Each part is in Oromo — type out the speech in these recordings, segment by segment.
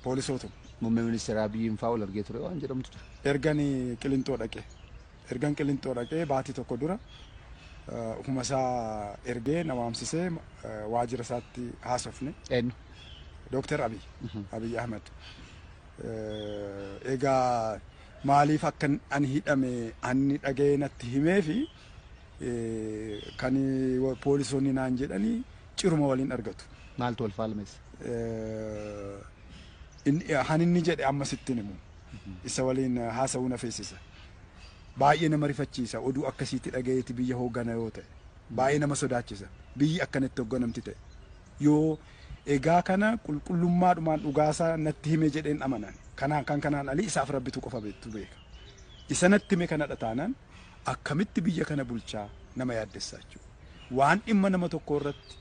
poolisootuma. Muummee Ministeera Abiyyiin fa'aa wal argee ture waan jedhamtu ture. Ergan Qilinxoo dhaqee ergan Qilinxoo dhaqee baatii tokko dura ofuma isaa ergee na waamsisee waajjira isaatti haasofne. Eenyu? Dooktar Abiy Abiy Ahmed. Egaa maaliif akka ani hidhame ani dhaga'ee natti himee fi kan poolisoonni naan jedhanii ciruma waliin argatu. Maaltu wal faalmeessa? han inni jedhe amma sittin himu isa waliin haasa'uu na feesisa. Baay'ee nama rifachiisa oduu akkasiitti dhagayeeti biyya hooggana yoo ta'e baay'ee nama sodaachisa biyyi akkanatti hoogganamti ta'e yoo egaa kana qulqullummaadhumaan dhugaasaa natti hime jedheen amanan kanaan kan kanaan alii isaaf rabbitu qofa beektu beeka isa natti hime kanadha taanaan akkamitti biyya kana bulchaa nama yaaddessaa jechuudha waan dhimma nama tokko irratti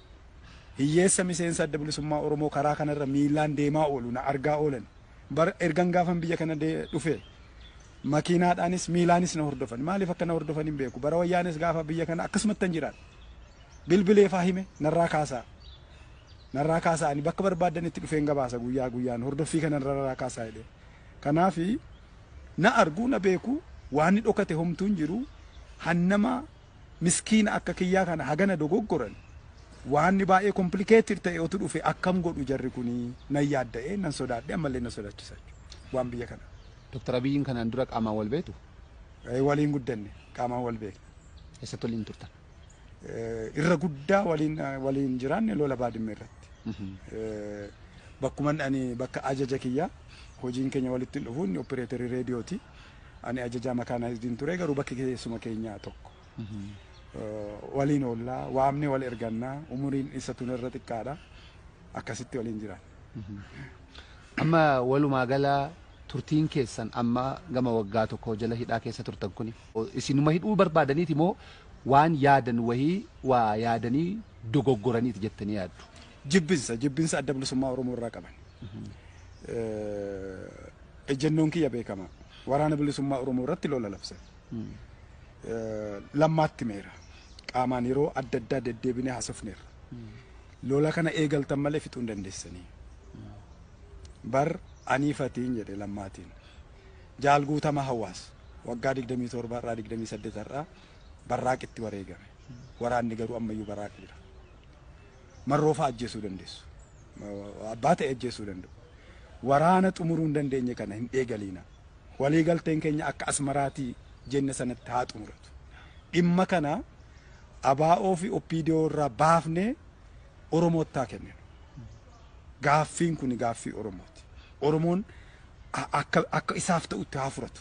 Hiyyeessa miseensa Adda Bilisummaa Oromoo karaa kanarra miillaan deemaa oolu na argaa oolan. Bara ergan gaafan biyya kana dhufe makiinaadhaanis miilaanis na hordofan. Maaliif akka na hordofan hin beeku. Bara wayyaanes gaafa biyya kana akkasumattan jiraadhe. Bilbileefaa hime narraa kaasaa. Narraa kaasaa ani bakka barbaaddanitti dhufeen gabaasa guyyaa guyyaan hordoffii kana narraa kaasaa jedhee. Kanaaf na argu na beeku waanni dhokate homtuu hin jiru. Hannama miskiina akka kiyyaa kana hagana dogoggoran waanni baay'ee complicated ta'e otu dhufe akkam godhu jarri kuni nan yaadda'e nan sodaadhe ammallee na sodaachisa jechuudha waan biyya kana. Doktar Abiyyiin kanaan dura qaamaan wal beektu? Eh, Waliin guddanne qaamaan wal beekna. Eessatti waliin turtan? Eh, Irra guddaa waliin waliin jiraanne lola baadimmee irratti. Eh, Bakkuman ani bakka ajaja kiyyaa hojiin keenya walitti hin dhufu inni opereeterii reediyooti. Ani ajajaa makaanaayizdiin ture garuu bakki keessuma keenyaa tokko. Waliin oollaa, waamnee wal ergannaa, umuriin isa tun irra xiqqaadha. Akkasitti waliin jiraanna. Amma walumaa gala turtiin keessan amma gama waggaa tokkoo jala hidhaa keessa turtan kuni isinuma hidhuu barbaadaniiti moo waan yaadan wahii waa yaadanii dogoggoraniiti jettanii yaaddu? Jibbinsa, jibbinsa adda bilisummaa Oromoo irraa qaban. Ejjennoon kiyya beekama. Waraana bilisummaa Oromoo irratti lola labse. Lammaatti meera. Qaamaan yeroo adda addaa deddeebinee haasofneerra. Lola kana eegaltan malee fixuu hin dandeessanii. Bar anii fatiin jedhe lammaatiin. Jaal guutama hawaas waggaa 27 irraa 28 irraa barraaqitti wareegame. Waraanni garuu ammayyuu barraaqi jira. marroo fa'aa ajjeesuu dandeessu. Abbaa ta'e ajjeesuu danda'u. Waraana xumuruu hin dandeenye kana hin eegaliina. Walii galteen keenya akka asmaraatii jenne sanatti haa xumuratu. Dhimma kana abaa'oo fi oppiidiyoo irraa baafnee Oromootti haa kenninu. Gaaffiin kun gaaffii Oromooti. Oromoon akka, akka isaaf ta'utti haa furatu.